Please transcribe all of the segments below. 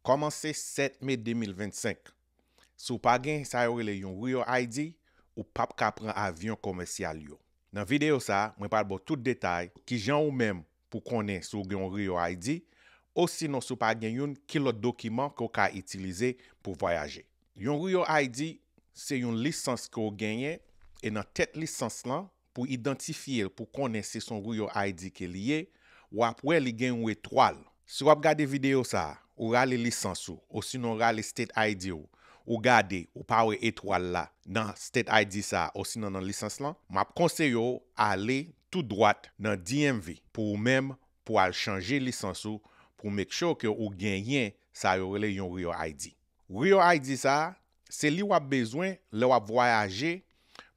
Kòmanse 7 me 2025, si w pa gen sa yo rele yon Real ID, ou pap ka pran avyon komèsyal yo. Nan videyo sa, mwen pral ba w tout detay kijan ou menm pou konnen si w gen yon Real ID, osinon si w pa gen youn ki lòt dokiman ke w ka itilize pou vwayaje. Yon Real ID se yon lisans ke w genyen e nan tèt lisans lan, Pou idantifye l pou konnen si s on Rouyo ID ke li ye, w ap wè li gen yon etwal. Si w ap gade videyo sa a, ou rale lisans ou osinon rale State ID ou, ou gade ou pa wè etwal la nan State ID sa a osinon nan lisans lan, m ap konseye w ale tou dwat nan DMV pou ou menm pou al chanje lisans ou pou make sure ke ou genyen sa yo rele yon Rouyo ID. Real ID sa, se li wap bezwen lè wap vwayaje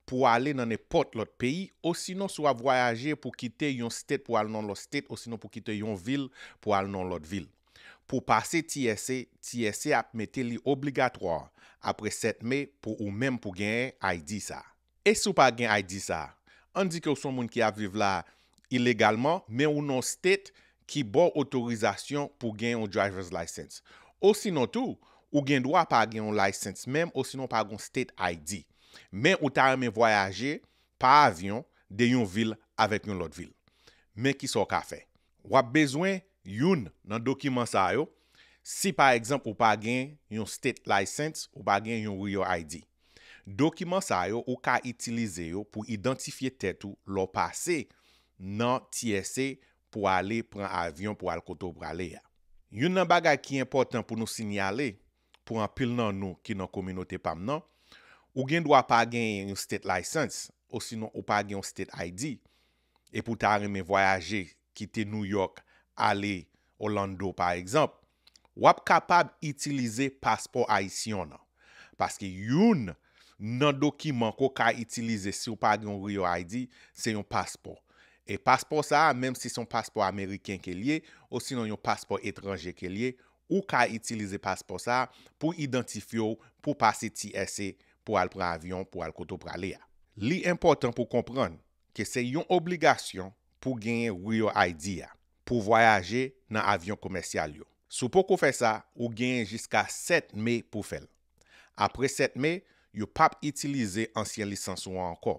pou ale nan nenpòt lòt peyi osinon si wap vwayaje pou kite yon state pou al nan lòt state osinon pou kite yon vil pou al nan lòt vil. Pou pase TSA, TSA ap mete li obligatoire apre 7 mai pou ou menm pou genyen ID sa a. E si w pa gen ID sa a? Ann di ke w se yon moun ki ap viv la a ilegalman, men ou nan yon state ki ba w otorizasyon pou w gen yon driver's license. Osinon tou, ou gen dwa pa gen yon license menm osinon w pa gen yon state ID. Men ou ta renmen vwayaje pa avyon de yon vil avèk yon lòt vil. Men kisa w ka fè. W ap bezwen youn nan dokiman sa yo si pa egzanp ou pa gen yon State License, ou pa gen yon Real ID. Dokiman sa yo ou ka itilize yo pou idantifye tèt ou lè w pase nan TSA pou ale pran avyon pou al kote w prale a. Youn nan bagay ki enpòtan pou nou sinyale pou anpil nan nou ki nan kominote pa m nan, ou gen dwa pa genyen yon State License osinon ou pa gen yon State ID, epi ou ta renmen vwayaje kite New York ale Orlando pa egzanp, wap kapab itilize paspò ayisyon nan. Paske youn Nan dokiman ke w ka itilize si w pa gen yon Real ID se yon paspò. E paspò sa a menm si se yon paspò ameriken ke li ye osinon yon paspò etranje ke li ye, ou ka itilize paspò sa a pou idantifye w pou w pase TSA pou w al pran avyon pou w al kote w prale a. Li enpòtan pou w konprann ke se yon obligasyon pou genyen RioID a pou vwayaje nan avyon komèsyal yo. Si w poko fè sa, ou genyen jiska 7 me pou fè l. Apre 7 me, yo p ap itilize ansyen lisans ou an ankò.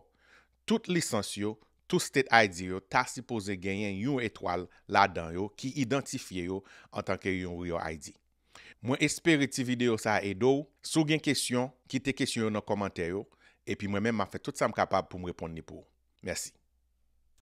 Tout lisans yo, tout State ID yo ta sipoze genyen yon etwal ladan yo ki idantifye yo antanke yon RioID. Mwen espere ti videyo sa a ede w, si w gen kesyon, kite kesyon yo nan kòmantè yo, epi mwen menm m ap fè tout sa m kapab pou m reponn li pou ou. Mèsi.